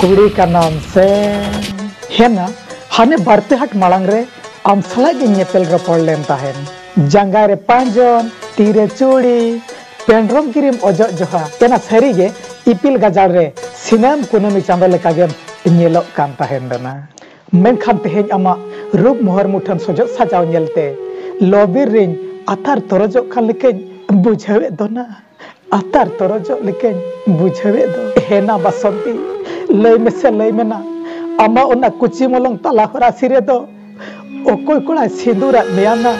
ᱠᱩᱲᱤ ᱠᱟᱱᱟᱢ ᱥᱮ ᱦᱮᱱᱟ ᱦᱟᱱᱮ ᱵᱟᱨᱯᱮ ᱦᱟᱴ ᱢᱟᱲᱟᱝ ᱨᱮ ᱟᱢ ᱥᱟᱞᱟᱜ ᱜᱮ ᱧᱮᱯᱮᱞ ᱨᱚᱯᱚᱲ ᱞᱮᱱ ᱛᱟᱦᱮᱱ ᱡᱟᱸᱜᱟ ᱨᱮ ᱯᱟᱸᱡᱚᱱ ᱛᱤ ᱨᱮ ᱪᱩᱲᱤ ᱯᱮᱱᱰᱨᱚᱢ ᱜᱤᱨᱤᱢ ᱚᱡᱚᱜ ᱡᱚᱦᱟ ᱮᱱᱟ ᱥᱟᱹᱨᱤ ᱜᱮ ᱤᱯᱤᱞ ᱜᱟᱡᱟᱲ ᱨᱮ ᱥᱤᱱᱟᱢ ᱠᱩᱱᱟᱹᱢᱤ ᱪᱟᱸᱫᱚ ᱞᱮᱠᱟ ᱜᱮᱢ ᱧᱮᱞᱚᱜ ᱠᱟᱱ ᱛᱟᱦᱮᱱ ᱨᱮᱱᱟ ᱢᱮᱱᱠᱷᱟᱱ ᱛᱮᱦᱮᱧ ᱟᱢᱟᱜ ᱨᱩᱯ ᱢᱚᱦᱚᱨ ᱢᱩᱴᱷᱟᱹᱱ ᱥᱚᱡᱚᱜ ᱥᱟᱡᱟᱣ ᱧᱮᱞᱛᱮ ᱞᱚᱵᱤᱨ ᱨᱤᱧ ᱟᱛᱟᱨ ᱛᱚᱨᱚᱡᱚᱜ ᱠᱟᱱ ᱞᱮᱠᱟᱧ ᱵᱩᱡᱷᱟᱹᱣᱮᱫ ᱫᱚᱱᱟ ᱟᱛᱟᱨ ᱛᱚᱨᱚᱡᱚᱜ ᱞᱮᱠᱟᱧ ᱵᱩᱡᱷᱟᱹᱣᱮᱫ ᱫᱚ᱾ ᱦᱮᱱᱟ ᱵᱟᱥᱚᱱᱛᱤ, ᱞᱟᱹᱭ ᱢᱮᱥᱮ ᱞᱟᱹᱭ ᱢᱮᱱᱟ, ᱟᱢᱟᱜ ᱚᱱᱟ ᱠᱩᱪᱤ ᱢᱚᱞᱚᱝ ᱛᱟᱞᱟ ᱦᱚᱨᱟᱥᱤ ᱨᱮᱫᱚ ᱚᱠᱚᱭ ᱠᱚᱲᱟᱭ ᱥᱤᱸᱫᱩᱨᱟᱫ ᱢᱮᱭᱟ ᱱᱟ?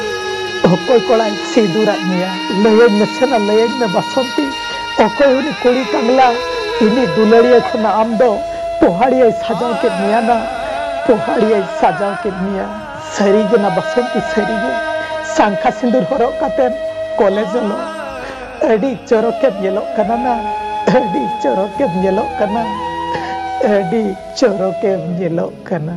ᱚᱠᱚᱭ ᱠᱚᱲᱟᱭ ᱥᱤᱸᱫᱩᱨᱟᱫ ᱢᱮᱭᱟ? ᱞᱟᱹᱭᱟᱹᱧ ᱢᱮᱥᱮ ᱱᱟ ᱞᱟᱹᱭᱟᱹᱧ ᱢᱮ ᱵᱟᱥᱚᱱᱛᱤ, ᱚᱠᱚᱭ ᱩᱱᱤ ᱠᱩᱲᱤ ᱠᱟᱝᱞᱟ, ᱤᱧᱤᱡ ᱫᱩᱞᱟᱹᱲᱤᱭᱟᱹ ᱠᱷᱚᱱᱟᱜ ᱟᱢ ᱫᱚ ᱯᱚᱦᱟᱲᱤᱭᱟᱹᱭ ᱥᱟᱡᱟᱣ ᱠᱮᱫ ᱢᱮᱭᱟ ᱱᱟ, ᱯᱚᱦᱟᱲᱤᱭᱟᱹᱭ ᱥᱟᱡᱟᱣ ᱠᱮᱫ ᱢᱮᱭᱟ᱾ ᱥᱟᱹᱨᱤ ᱜᱮ ᱱᱟ ᱵᱟᱥᱚᱱᱛᱤ ᱥᱟᱹᱨᱤ ᱜᱮ ᱥᱟᱝᱠᱷᱟ ᱥᱤᱸᱫᱩᱨ ᱦᱚᱨᱚᱜ ᱠᱟᱛᱮᱢ ᱠᱚᱞᱮᱡᱽ ᱚᱞᱚᱜ ᱟᱹᱰᱤ ᱪᱚᱨᱚᱠ ᱮᱢ ᱧᱮᱞᱚᱜ ᱠᱟᱱᱟ ᱱᱟ ᱟᱹᱰᱤ ᱪᱚᱨᱚᱠ ᱮᱢ ᱧᱮᱞᱚᱜ ᱠᱟᱱᱟ ᱟᱹᱰᱤ ᱪᱚᱨᱚᱠ ᱮᱢ ᱧᱮᱞᱚᱜ ᱠᱟᱱᱟ᱾